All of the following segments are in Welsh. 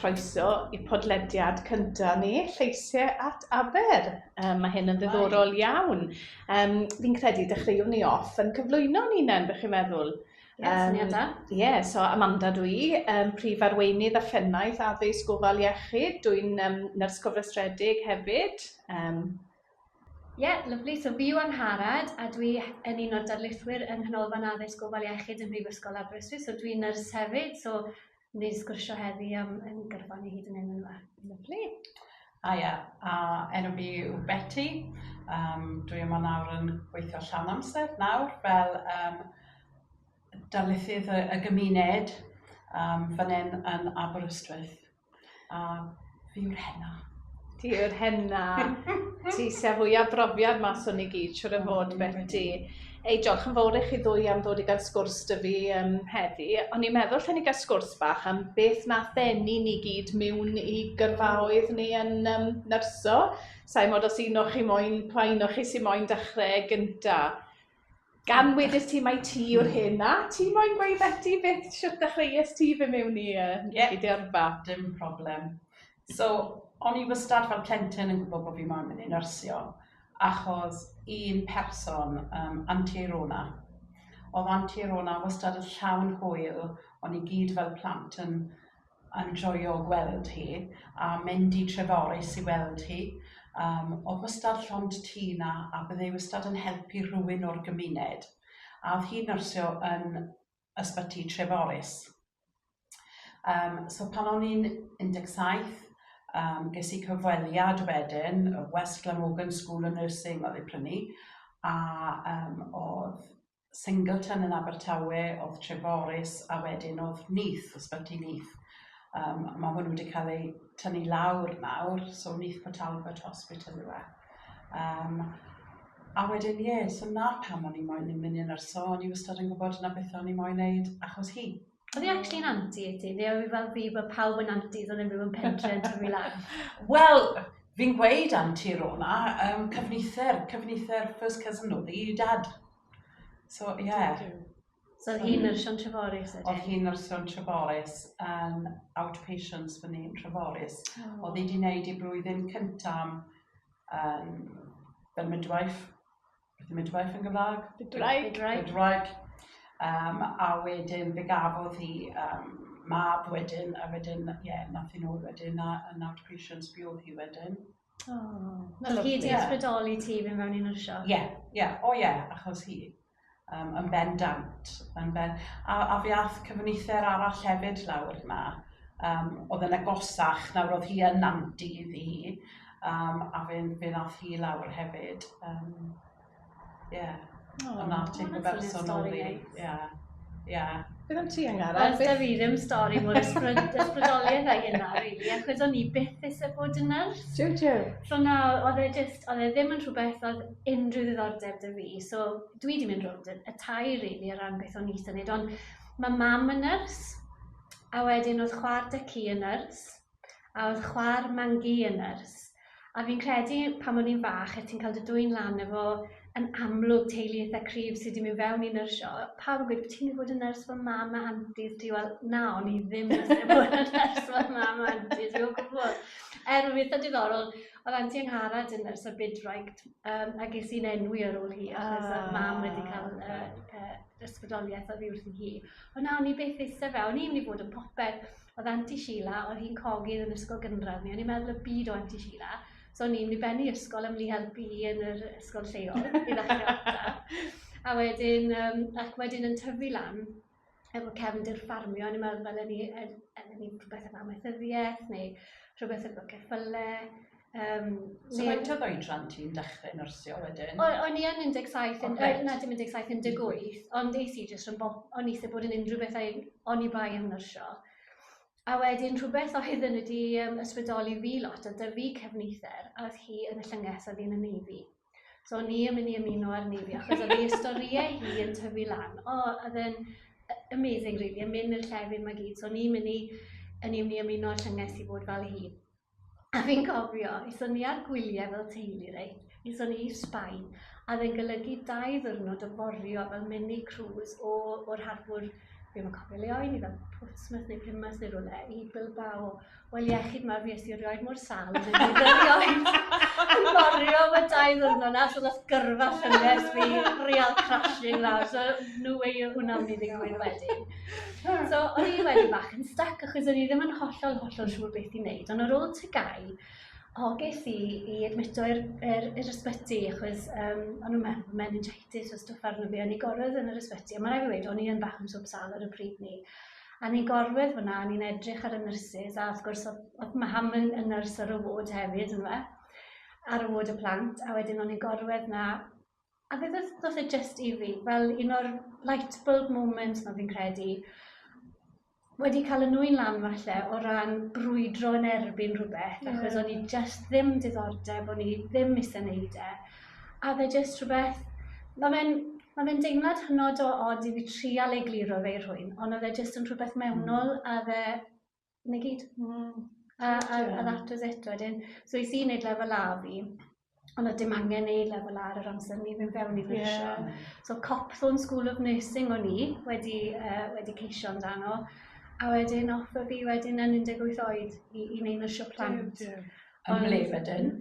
croeso i podlediad cynta ni, Lleisiau at Aber. Um, mae hyn yn ddiddorol iawn. Um, fi'n credu dechreuwn ni off yn cyflwyno ni nen, bych chi'n meddwl. Ie, um, syniad Ie, yeah, so Amanda dwi, um, prif arweinydd a phennaeth addysg gofal iechyd. Dwi'n um, nyrs cofrestredig hefyd. Um, Ie, yeah, lyflu. So fi yw Angharad a dwi yn un o'r darlithwyr yng Nghanolfan Addysg Gofal Iechyd yn Brifysgol Aberystwyth. So dwi'n nyrs hefyd, so ni'n sgwrsio heddi am yn gyrfan i hyd yn hyn yma. Lyflu. A ia, a enw fi yw Betty. Um, dwi yma nawr yn gweithio llawn amser nawr fel um, darlithydd y, y gymuned um, fan hyn yn Aberystwyth. A fi yw'r henna. Ti yw'r henna. Ti sy â fwya brofiad mas o ni gyd siŵr o fod Beti. Ei diolch yn fowr i chi ddwy am ddod i ga'l sgwrs 'da fi yym heddi. O'n i'n meddwl lle ni ga'l sgwrs bach am beth nath ddenu ni gyd miwn i gyrfaoedd ni yn yym nyrsio. Sai mod os un o chi moyn pa un o chi sy moyn dechre gynta. Gan wedys ti mai ti yw'r hyn na, ti moyn gweud beti beth siwt ddechreues ti fy mewn i uh, yeah. i dyrfa? Dim problem. So, o'n i wastad fel plentyn yn gwybod bod fi moyn mynd i nyrsio, achos un person, um, Anti Rona, oedd Anti Rona wastad yn llawn hwyl, o'n i gyd fel plant yn yn joio gweld hi a mynd i Treforys i weld hi. Yym o'dd wastad llond tŷ 'na a bydde hi wastad yn helpu rhywun o'r gymuned a o'dd hi'n nyrsio yn ysbyty Treforys. Yym so pan o'n i'n un deg saith yym ges i cyfweliad wedyn o West Glamorgan School of Nursing o'dd 'i prynu a yym o'dd Singleton yn Abertawe, o'dd Treforys a wedyn o'dd Neath, Ysbyty Neath yym ma' hwnnw 'di ca'l ei tynnu lawr nawr so Neath Port Talbot Hospital yw e. Yym a wedyn ie so 'na pam o'n i moyn mynd yn nyrsio o'n i wastad yn gwbod 'na beth o'n i moyn neud achos hi. Oedd hi actually'n anti i ti? Neu oedd hi fel fi, bod pawb yn anti, ddo'n unrhyw yn pentre yn tyfu lan? Wel, fi'n gweud anti Rona, um, cyfnither, cyfnither first cousin oedd hi, dad. So, ie. Yeah. So oedd hi'n nyrsio yn Treforys? Oedd hi'n nyrsio yn Treforys, yn um, outpatients fyny yn Treforys. Oh. Oedd hi wedi gwneud ei blwyddyn cyntaf yn um, Benmidwife. midwife yn Gymraeg? Bydwraig. Bydwraig. Bydwraig. Um, a wedyn fe gafodd hi um, mab wedyn, a wedyn, ie, yeah, nath hi'n ôl wedyn, a, a nawr patients fi oedd hi wedyn. Oh, na hi di ysbrydoli ti fe mewn un o'r siop? Ie, yeah, ie, yeah. o oh, ie, yeah, achos hi. Um, yn bendant. Yn ben... a, a fi ath cyfynither arall hefyd lawr yma. Um, oedd yn agosach, nawr oedd hi yn nanti i fi. Um, a fe, fe nath hi lawr hefyd. Um, yeah. Oh, a nath ti'n gyferson o'n fi. Yeah. Yeah. Beth am ti Angara? Wel, da fi ddim stori mor ysbrydoliaeth ag yna, really, achos o'n i byth eisiau bod yn nyrs. Tiw, tiw. So na, oedd e just, oedd e ddim yn rhywbeth oedd unrhyw ddiddordeb da fi. So dwi wedi mynd rhwng y tai, really, ar ran beth o'n i eisiau gwneud. Ond mae mam yn nyrs, a wedyn oedd chwar dy ci yn nyrs, a oedd chwa'r Mangi yn nyrs, a fi'n credu pan o'n i'n fach a ti'n cael dy dwyn lan efo yn amlwg teulu eitha' cryf sy' 'di mynd fewn i nyrsio, pawb yn gweud ti'n mynd i fod yn nyrs fel mam a anti ti, wel na o'n i ddim yn mynd i fod yn nyrs fel mam a anti ti o gwbwl. Er oedd eitha' diddorol, oedd anti Angharad yn nyrs ar Bidwraig, um, a ges i'n enwi ar ôl hi, achos oh. oedd mam wedi cael uh, uh, ysbrydoliaeth o ddi wrth hi. Ond na, o'n i beth eistedd fe, o'n i'n mynd i fod yn popeth. Oedd Anti Sheila, oedd hi'n cogydd yn ysgol gynradd ni, o'n i'n meddwl y byd o Anti Sheila. So o'n i'n mynd i bennu ysgol am mynd i helpu hi yn yr ysgol lleol, i ddechrau ata. A wedyn, um, ac wedyn yn tyfu lan, efo cefndir ffarmio, o'n i'n meddwl fel ni, yn ni rhywbeth am amaethyddiaeth, neu rhywbeth efo ceffylau, Um, so ne... faint oedd oedran ti'n dechrau nyrsio wedyn? O, o'n i yn 17, yn, okay. na dim 17, 18, ond eis i jyst yn bob, o'n eisiau bod yn unrhyw beth o'n i bai yn nyrsio. A wedyn rhywbeth oedd yn wedi um, ysbrydoli fi lot, a dy fi cefnither, a oedd hi yn y llynges a fi'n y neifi. So o'n i yn mynd i ymuno ar neifi, achos oedd ei storiau hi yn tyfu lan. O, oedd yn amazing, really, yn mynd i'r llefydd mae gyd. So o'n i'n mynd i, yn i'n mynd i ymuno ar llynges i fod fel hi. A fi'n cofio, aethon ni ar gwyliau fel teulu reit, aethon ni i Sbaen, a oedd e'n golygu dau ddiwrnod o forio fel mini cruise o, o'r harbwr, fi ddim yn cofio le o'i ni, fel Portsmouth neu Plymouth neu rhywle, i Bilbao. Wel, iechyd mawr fi esti erioed mor sal yn ei erioed. Yn forio am y dau ddiwrnod na, so ddoth gyrfa llynges fi, real crashing lawr, so no way o hwnna'n mynd i ddigwydd wedyn. So, o'n i wedi bach yn stuck achos o'n i ddim yn hollol, hollol siŵr beth i wneud. Ond ar ôl tygau, o, ges i i admito i'r er, er ysbyty achos um, o'n nhw'n meddwl meningitis o stwff arno fi. O'n i gorwedd yn yr ysbyty, a mae'n rhaid i wedi, o'n i yn bach yn swp sal ar y pryd ni. A ni'n gorwedd fyna, a ni'n edrych ar y nurses, a wrth gwrs, oedd mae ham yn, yn nyrs ar y wod hefyd, yn fe, ar y wod y plant, a wedyn o'n i'n gorwedd na, A beth oedd falle jyst i fi, fel un o'r light bulb moments ma fi'n credu, wedi cael y nwy'n lan falle o ran brwydro yn erbyn rhywbeth, yeah. achos o'n i jyst ddim diddordeb, o'n i ddim eisiau neud e. A fe jyst rhywbeth, mae fe'n ma fe deimlad hynod o od i fi trial ei gliro fe i'r hwy'n, ond oedd e jyst yn rhywbeth mewnol a fe 'na gyd. Waw. A a a that was it wedyn. So es i neud lefel A fi on' o'dd dim angen neud lefel A ar yr amser 'ny fi'n fewn i frisio. Ie. So Copthorne School of Nursing o'n i wedi yy wedi ceisio amdano a wedyn off a fi wedyn yn un deg wyth oed i i neud nyrsio plant. Duw duw. Yn ble wedyn?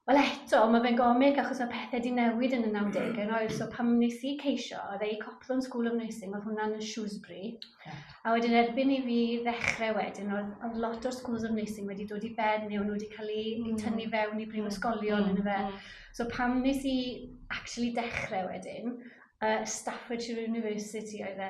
Wel eto, mae fe'n gomic achos mae pethe 'di newid yn y nawdege rhoi, so pan wnes i ceisio oedd e i Copland School of Nursing oedd hwnna'n yn Shrewsbury okay. a wedyn erbyn i fi ddechrau wedyn oedd, oedd lot o'r Schools of Nursing wedi dod i ben neu nhw wedi cael ei mm. tynnu fewn i brifysgolion mm. yn y fe. Mm. So pam nes i actually dechrau wedyn, uh, Staffordshire University oedd e,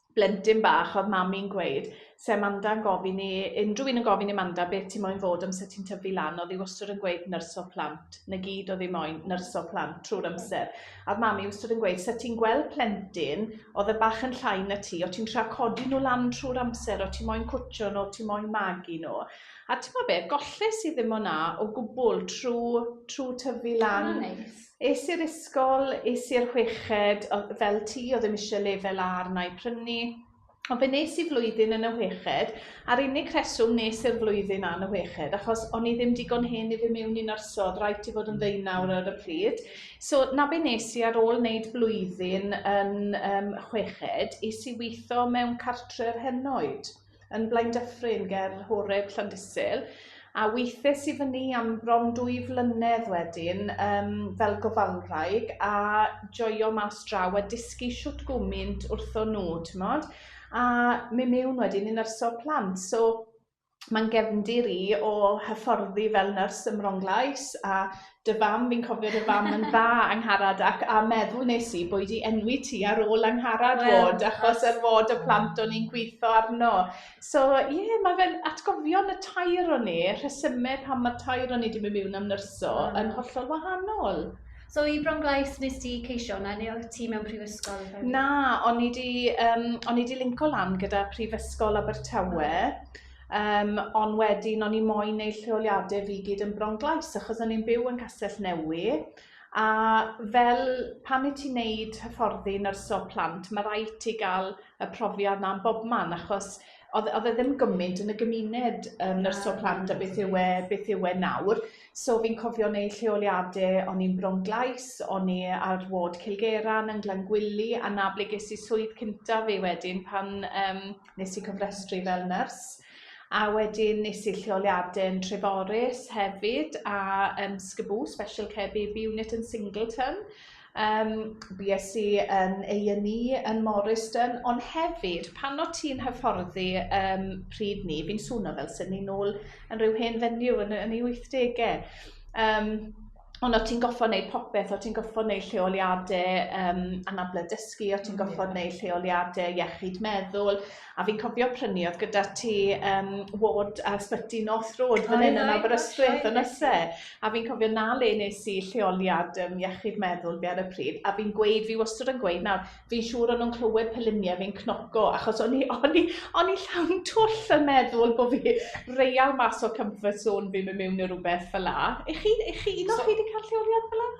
blentyn bach oedd mami'n gweud 'se Amanda'n gofyn i unrhyw un yn gofyn i Amanda beth ti moyn fod amser ti'n tyfu lan oedd hi wastad yn gweud nyrs o plant 'na gyd oedd hi moyn nyrs o plant trwy'r amser a oedd mami wastad yn gweud 'se ti'n gweld plentyn oedd y bach yn llai na ti o ti'n tra codi nhw lan trwy'r amser o ti moyn cwtio nhw o ti moyn magu nhw a ti'n gwybod beth golles i ddim o'na o gwbl trwy trwy tyfu lan. Mae'n neis. Es i'r ysgol, es i i'r chweched, oedd, fel ti, oedd ddim eisiau lefel A arna i prynu. Ond fe nes i flwyddyn yn y chweched, a'r unig rheswm nes i'r flwyddyn A yn y chweched, achos o'n i ddim digon hen i fy' mewn i nyrsio, oedd rhaid ti fod yn ddeunaw ar y pryd. So 'na be nes i ar ôl wneud blwyddyn yn yym chweched, es i weithio mewn cartre'r henoed. yn Blaendyffryn ger Horeb Llandysul, a weithiais i fyny am bron dwy flynedd wedyn um, fel gofalwraig a joio mas draw a dysgu siwt gwmynt wrtho nhw, ti'n modd? A mi mewn wedyn yn nyrsio plant, so mae'n gefndir i o hyfforddi fel nyrs ym Mronglais a dy fam, fi'n cofio dy fam yn dda, Angharad, ac a meddwl nes i bod i enwi ti ar ôl Angharad well, fod, achos ar fod y plant o'n i'n gweithio arno. So, ie, yeah, mae fe'n atgofion y tair o'n ni, rhesymau pan mae'r tair o'n ni wedi mynd mewn am nyrso, mm. yn hollol wahanol. So i Bronglais nes di ceisio hwnna, neu oedd ti mewn prifysgol? Na, o'n i di, um, o'n i di linko lan gyda Prifysgol Abertawe. Um, ond wedyn o'n i moyn neud lleoliadau fi gyd yn bronglais, achos o'n i'n byw yn Castell Newy, a fel pan i ti'n neud hyfforddi nyrsio plant, mae rhaid ti gael y profiad na'n bobman, achos oedd e ddim gymaint yn y gymuned um, nyrsio plant a beth yw e, beth yw e nawr. So fi'n cofio neud lleoliadau, o'n i'n bronglais, o'n i ar ward Cilgeran yn Glangwili, a na ble ges i swydd cyntaf fi wedyn pan um, Nes i cofrestru fel nyrs a wedyn nes i'r lleoliadau yn Treforys hefyd a yn Sgybw, Special Care Baby Unit yn Singleton. Um, BSc yn A&E yn Morriston, ond hefyd, pan o ti'n hyfforddi um, pryd ni, fi'n swno fel sy'n ni'n ôl yn rhyw hen fenyw yn, yn ei 80au. Um, ond o ti'n goffo neud popeth, o ti'n goffo neud lleoliade um, anable dysgu, o ti'n goffo neud lleoliade iechyd meddwl, a fi'n cofio prynu oedd gyda ti um, ward a sbyty North Road fan hyn yn Aberystwyth yn yse, a fi'n cofio na le nes i lleoliad um, iechyd meddwl fi ar y pryd, a fi'n gweud, fi wastad yn gweud nawr, fi'n siŵr o'n nhw'n clywed pe lunie fi'n cnoco, achos o'n i, o'n i, o'n i llawn twll yn meddwl bod fi real mas o comfort zone fi'n mynd mewn i rhywbeth fel la. I chi, i chi, un o'ch chi wedi cael lleoliad fel la?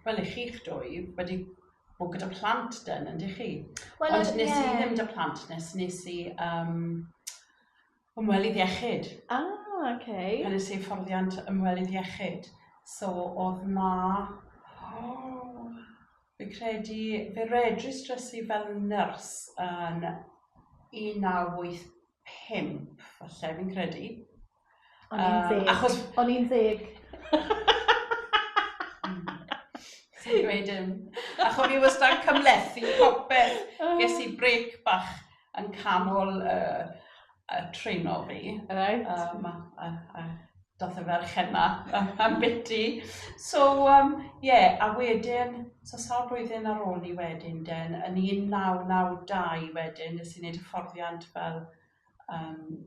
Wel, i chi'ch dwy wedi bod gyda plant dyn, yn dych chi? Well, Ond nes yeah. i ddim da plant, nes nes i um, Ymwelydd iechyd. Ah, oce. Okay. Hynny'n hyfforddiant ymwelydd iechyd. So, oedd na... Oh, fi credu, fe registrys i fel nyrs yn 1985, falle, fi'n credu. O'n i'n ddeg. Um, achos... O'n i'n ddeg. Ti'n dweud dim. Achos fi wastad cymlethu popeth. Ges i brec bach yn canol y, y treno fi. Right. Um, a, a, a doth y ferchen na am biti. So, um, yeah, a wedyn, so sawl blwyddyn ar ôl ni wedyn, den, yn 1992 wedyn, nes i wneud hyfforddiant fel um,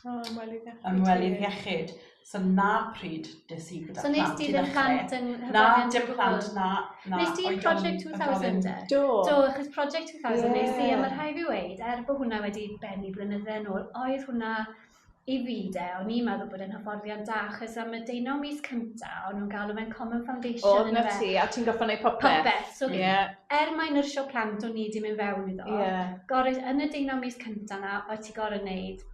O, ymwelydd iechyd. Ymwelydd iechyd. So na pryd des i gyda so plant. So nes ti ddim plant yn hyfryd? Na, dim plant, na. na nes ti Project 2000 de? Do. Do, achos Project 2000 yeah. nes i, a mae rhai fi weid, er bod hwnna wedi benni blynydde yn ôl, oedd hwnna i fi de, o'n i'n meddwl bod yn hyfforddiant da, achos am y deunaw mis cynta, o'n nhw'n galw fe'n Common Foundation. O, na ti, a ti'n goffa neu popeth. Popeth, so yeah. er mae nyrsio plant o'n i wedi mynd fewn iddo, yeah. gorau yn y deunaw mis cynta na, ti'n gorau wneud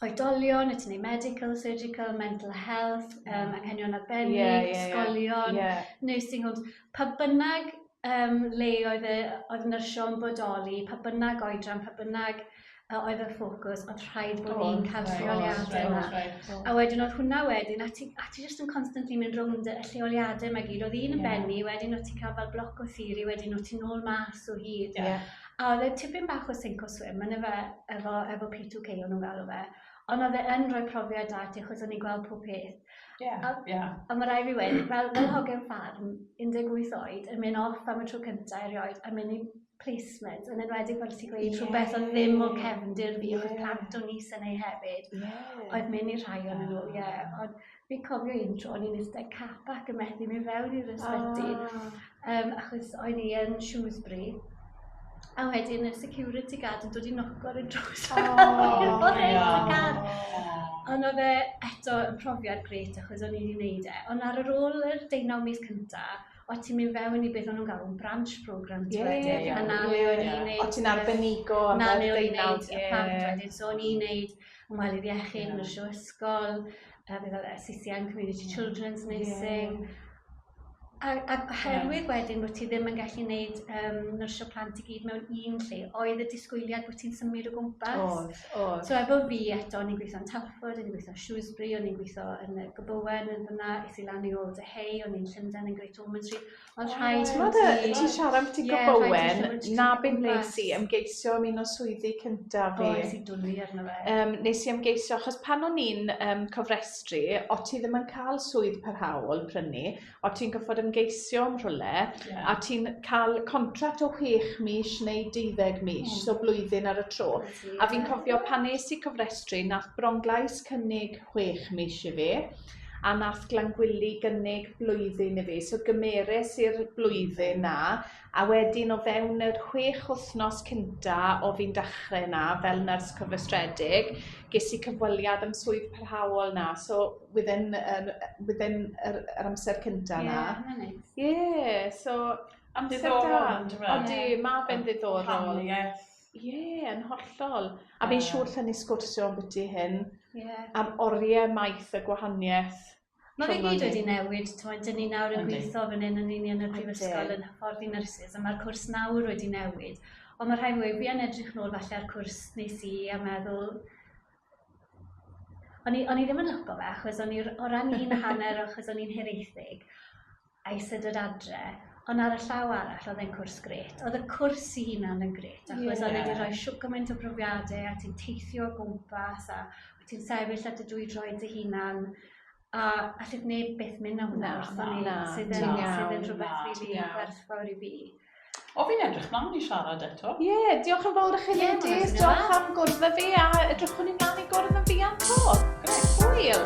oedolion, y ti'n ei medical, surgical, mental health, um, anghenion arbennig, yeah, yeah, yeah. ysgolion, yeah. nursing homes, pa bynnag um, le oedd, y, oedd nyrsio yn bodoli, pa bynnag oedran, pa bynnag uh, oedd y ffocws, oedd rhaid bod oh, ni'n cael lleoliadau yna. Right, right. A wedyn oedd hwnna wedyn, a ti, a ti just yn constantly mynd rownd y lleoliadau yma gyd, oedd un yn yeah. benni, wedyn oedd ti'n cael fel bloc o theori, wedyn oedd ti'n ôl mas o hyd. Yeah. A oedd e tipyn bach o sink or swim, yn efe, efo, efo P2K o'n nhw'n galw fe. Ond oedd e yn rhoi profiad da ti, achos o'n i'n gweld pob peth. Ie, ie. A mae rai fi wedi, fel, fel hogyn ffarm, 18 oed, yn mynd off am y tro cyntaf erioed, yn mynd i placement, yn enwedig fel ti'n gweud, yeah. rhywbeth oedd ddim o cefndir fi, yeah. oedd plant o'n is yn ei hefyd, yeah. oedd mynd i rhai o'n nhw, ie. Yeah. Ond Fi'n cofio un tro o'n i'n iste capac yn methu mynd fewn i'r ysbyty. Oh. Um, achos o'n i yn Shrewsbury. A wedyn y security guard yn dod i noco ar y drws. Oh, Ond oedd e eto yn profiad gret achos o'n i wedi gwneud e. Ond ar yr ôl yr deunaw mis cyntaf, o ti'n mynd fewn i beth o'n nhw'n galw yn branch program ti yeah, wedyn. Yeah, a na le o'n i'n neud... O ti'n arbenigo am y deunaw. Na le o'n i'n neud y plant wedyn. So o'n i'n neud ymwelydd iechyd, yeah. nyrsio ysgol, pethe fel y CCN community children's nursing a a oherwydd wedyn bod ti ddim yn gallu neud um, nyrsio plant i gyd mewn un lle, oedd y disgwyliad bod ti'n symud o gwmpas. Oedd, oedd. So efo fi eto, ni'n gweithio yn Telford, ni'n gweithio yn Shrewsbury, o'n i'n gweithio yn y Gobowen yn fyna, es i lan i ôl dy hei, o'n i'n Llundain yn Great Ormond Street. Mae'n rhaid i T'mod y... ti... ti'n siarad ambyti Ie, rhaid i ti gymryd tipyn bach. na be wnes i ymgeisio am un o swyddi cynta fi. O es i dwli arno fe. Yym nes i ymgeisio achos pan o'n i'n yym cofrestru o' ti ddim yn cael swydd parhaol prynu o' ti'n gorfod ymgeisio am rhywle yeah. a ti'n cael contract o 6 mis neu 12 mis mm. so blwyddyn ar y tro a fi'n cofio pan nes i cofrestru nath Bronglais cynnig 6 mis i fi a nath Glangwili gynnig blwyddyn i fi so gymeres i'r blwyddyn 'na a wedyn o fewn yr chwech wythnos cynta o fi'n dachre 'na fel nyrs cyfrestredig ges i cyfweliad am swydd parhaol 'na so within um, within yr, yr amser cynta 'na. Ie, yeah, Ie, so amser da. Ond di, mae fe'n ddiddorol. Rhannu Ie, yn hollol. A fi'n siŵr lle ni sgwrsio am byti hyn, yeah. am oriau maith y gwahaniaeth. Mae fe gyd wedi newid, ti'n dyn ni nawr yn gweithio fan hyn yn union y prifysgol yn hyffordd i nyrsys, a mae'r cwrs nawr wedi newid. Ond mae rhai mwy, fi yn edrych nôl falle ar cwrs nes i a meddwl, O'n i, o'n i ddim yn lyco fe, achos o'n i o ran un hanner, achos o'n i'n hiraethig. eistedd yr adre, ond ar y llaw arall, oedd e'n cwrs gret. Oedd y cwrs i hunan yn gret, achos yeah. oedd e wedi rhoi siwg gymaint o brofiadau, a ti'n teithio o gwmpas, a wyt ti'n sefyll at y dwy droed dy hunan, a allwch neb beth mynd am hwnna wrth o'n sydd yn rhywbeth rili gwerthfawr i fi. O, fi'n edrych mlaen i siarad eto. Ie, yeah, diolch yn fawr i chi yeah, ladies. Diolch am gwrdd â fi a edrychwn i mlaen i gwrdd yn fi am to. Grêt. Hwyl.